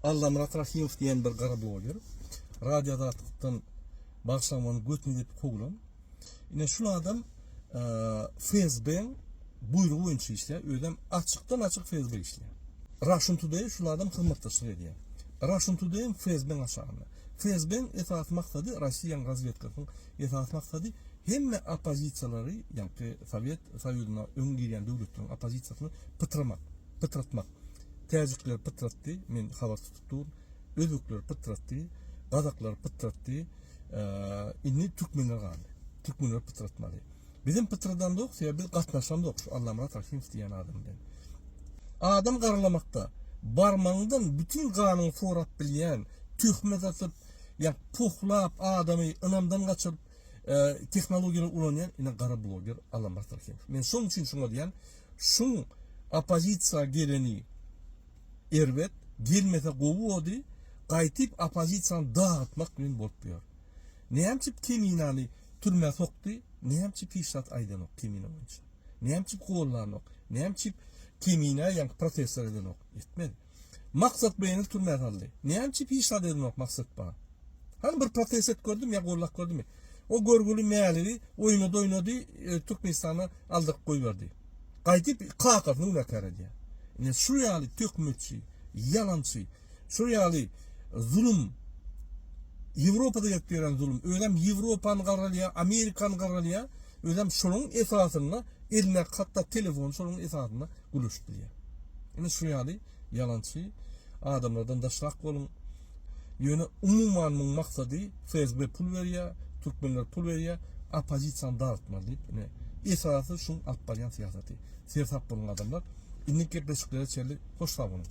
Allamyrat Rahymow diýen bir gara bloger Radio Azatlykdan bagşlamany götüne depip kowlan. Ine şul adam FSB-iň buýrugy boýunça işleýär, özem açykdan açyk FSB işleýär. Russian Today şul adam hyzmatdaşlyk edýär. Russian Today hem FSB-iň aşagynda. FSB-iň esasy maksady Rossiýanyň razwedkasynyň esasy maksady hemme oppozisiýalary, ýagny Sowet Soýuzyna öň girýän döwletleriň oppozisiýasyny pytramak. Pytratmak. Täjikler pytratdy, men habar tutup durun. Özbekler pytratdy, gazaklar pytratdy. Indi türkmenler galdy. Türkmenler pytratmaly. Bizem pytradandyk, sebäbi biz gatnaşandyk şu Allamyrat Rahimow diýen adam bilen. Adam garalamakda barmagyňdan bütün ganyňy sorap bilýän, töhmet atyp, ýa pohlap adamy ynamdan gaçyp, e, tehnologiýalary ulanýan ine gara bloger Allamyrat Rahimow. Men şoň üçin şoňa diýen Şum opozisiýa geleni erbet, gelmese gowy body, gaýtyp opozisiýany dagytmak bilen bolup ýör. Näme üçin Keminany türmä sokdy, näme üçin hiç zat aýdanok Kemina boýunça. Näme üçin gollanok, näme üçin Kemina ýaňky protestler edenok, etmedi. Maksat beýnini türmä saldy. Näme üçin hiç zat edinok Maksatba? Hany bir protest edip gördümi ýa gollap gördümi? O görgüli Mäligi oýnady oýnady Türkmenistana aldyryp goýberdi. Gaýdyp kakasyny günäkär edýär. Ine şu ýaly töhmetçi, ýalançy, şu ýaly zulum Ýewropada gelip ýören zulum. Özem Ýewropany gargalýar, Amerikany gargalýar. Özem şonuň esasynda eline hatda telefon şonuň esasynda. gülüşip bilýär. Ine şu ýaly ýalançy adamlardan daşrak boluň. Ýöne umuman muň maksady FSB pul berýä, türkmenler pul berýä, oppozisiýany dartmaly diýip ine esasy şuň alyp barýan syýasaty. Sersap boluň adamlar. Indiki gepleşiklere çenli hoş sag boluň.